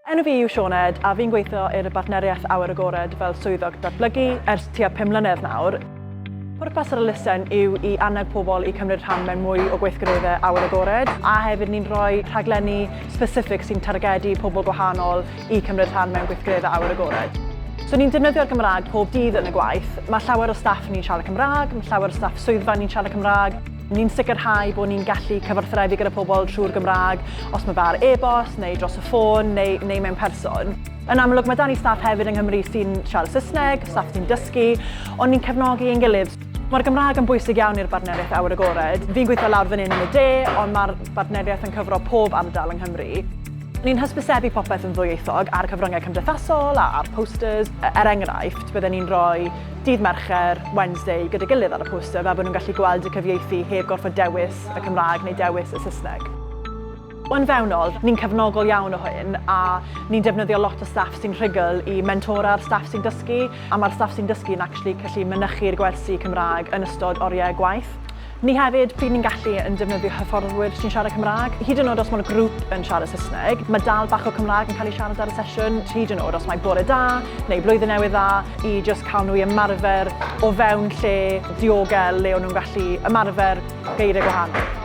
Enw fi yw Sioned a fi'n gweithio i'r Bartneriaeth Awyr Agored fel Swyddog Datblygu ers tua pum mlynedd nawr. Pwrpas yr elusen yw i annog pobl i cymryd rhan mewn mwy o gweithgareddau awyr agored a hefyd ni'n rhoi rhaglenni specific sy'n targedu pobl gwahanol i cymryd rhan mewn gweithgareddau awyr agored. So ni'n defnyddio'r Gymraeg pob dydd yn y gwaith. Mae llawer o staff ni'n siarad Cymraeg, mae llawer o staff swyddfa ni'n siarad Cymraeg. Ni'n sicrhau bod ni'n gallu cyfathrebu gyda pobl trwy'r Gymraeg, os mae fe ar e-bost, neu dros y ffôn, neu, neu mewn person. Yn amlwg, mae 'da ni staff hefyd yng Nghymru sy'n siarad Saesneg, staff sy'n dysgu, ond ni'n cefnogi ein gilydd. Mae'r Gymraeg yn bwysig iawn i'r Bartneriaeth Awyr Agored. Fi'n gweithio lawr fan hyn yn y de, ond mae'r bartneriaeth yn cyfro pob ardal yng Nghymru. Ni'n hysbysebu popeth yn ddwyieithog ar y cyfryngau cymdeithasol a a'r posters. Er enghraifft, bydden ni'n rhoi Dydd Mercher, Wednesday, gyda'i gilydd ar y poster fel bod nhw'n gallu gweld y cyfieithu heb gorfod dewis y Cymraeg neu dewis y Saesneg. Yn fewnol, ni'n cefnogol iawn o hyn a ni'n defnyddio lot o staff sy'n rhugl i mentora'r staff sy'n dysgu a mae'r staff sy'n dysgu yn actually gallu mynychu'r gwersi Cymraeg yn ystod oriau gwaith. Ni hefyd, pryd ni'n gallu yn defnyddio hyfforddwyr sy'n siarad Cymraeg. Hyd yn oed os mae'r grŵp yn siarad Saesneg, mae dal bach o Cymraeg yn cael ei siarad ar y sesiwn, hyd yn oed os mai bore da neu blwyddyn newydd dda, i jyst cael nhw i ymarfer o fewn lle diogel le o'n nhw'n gallu ymarfer geiriau gwahanol.